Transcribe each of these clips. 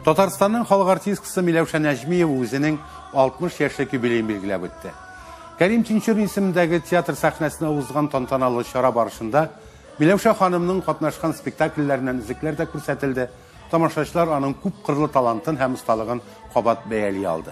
Татарстанның халык артисткасы Миләүшә Нәҗмиева үзенең 60 яшьлек юбилеен билгеләп үтте. Кәрим Тинчурин исемендәге театр сәхнәсенә узган тантаналы чара барышында Миләүшә ханымның катнашкан спектакльләреннән үзекләр дә күрсәтелде, тамашачылар аның күп кырлы талантын һәм осталыгын кабат бәяли алды.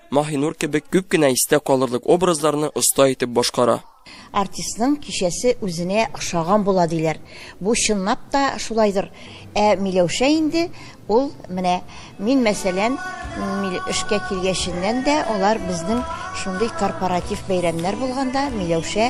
Маһинур кебек күп кенә истә калырлык образларны оста итеп башкара. Артистның кичәсе үзенә охшаган була, диләр. Бу чынлап та шулайдыр. Ә Миләүшә инде ул, менә мин, мәсәлән, эшкә килгәченнән дә алар безнең шундый корпоратив бәйрәмнәр булганда Миләүшә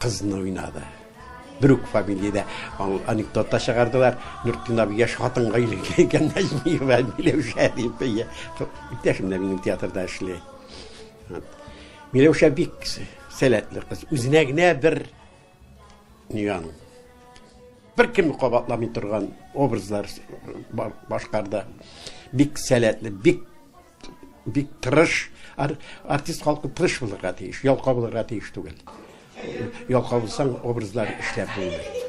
Кызны уйнады. Бер үк фамилиядә анекдот та чыгардылар. Нуртдин абый яшь хатынга өйләнгән икән, Нәҗмиева Миләүшә дип. Иптәшем дә минем театрда эшли. Миләүшә бик сәләтле кыз. Үзенә генә бер ниган. Бер кем кабатламый торган образлар башкарды. Бик сәләтле, бик Бик тырыш, артист халкы тырыш булырга тиеш, ялка булырга тиеш түгел. Ялка булсаң, образлар эшләп булмый.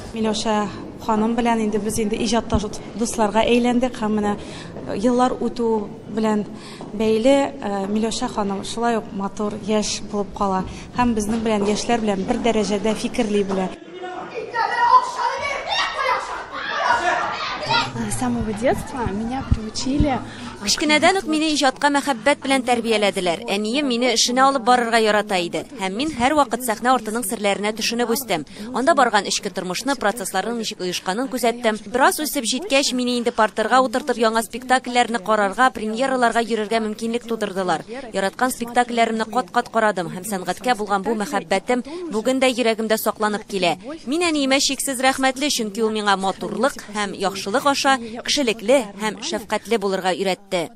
Миләүшә ханым белән инде без инде иҗатта дусларга әйләндек һәм менә э, еллар үтү белән бәйле э, Миләүшә ханым шулай ук матур, яшь булып кала һәм безнең белән яшьләр белән бер дәрәҗәдә фикерли белә. С самого детства меня приучили а, Кечкенәдән үк мине иҗатка мәхәббәт белән тәрбияләделәр. Әнием мине эшенә алып барырга ярата иде. Һәм мин һәрвакыт сәхнә артының серләренә төшенеп үстем. Анда барган эчке тормышны, процессларның ничек оешканын күзәттем. Бераз үсеп җиткәч, мине инде партерга утыртып яңа спектакльләрне карарга, премьераларга йөрергә мөмкинлек тудырдылар. Яраткан спектакльләремне кат-кат карадым һәм сәнгатькә булган бу мәхәббәтем Бүген дә йөрәгемдә сакланып килә. Мин әниемә чиксез рәхмәтле, чөнки ул миңа матурлык һәм яхшылык аша кешелекле һәм шәфкатьле булырга өйрәтте.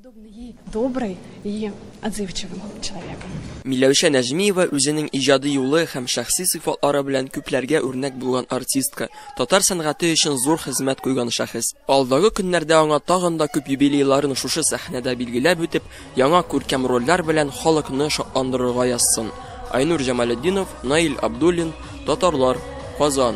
Миләүшә Нәҗмиева үзенең иҗади юлы һәм шәхси сыйфатлары белән күпләргә үрнәк булган артистка, татар сәнгате өчен зур хезмәт куйган шәхес. Алдагы көннәрдә аңа тагын да күп юбилейларын шушы сәхнәдә билгеләп үтеп, Яңа күркәм рольләр белән халыкны шатландырырга язсын! Айнур Җамалетдинов, Наил Абдуллин, Татарлар, Казан.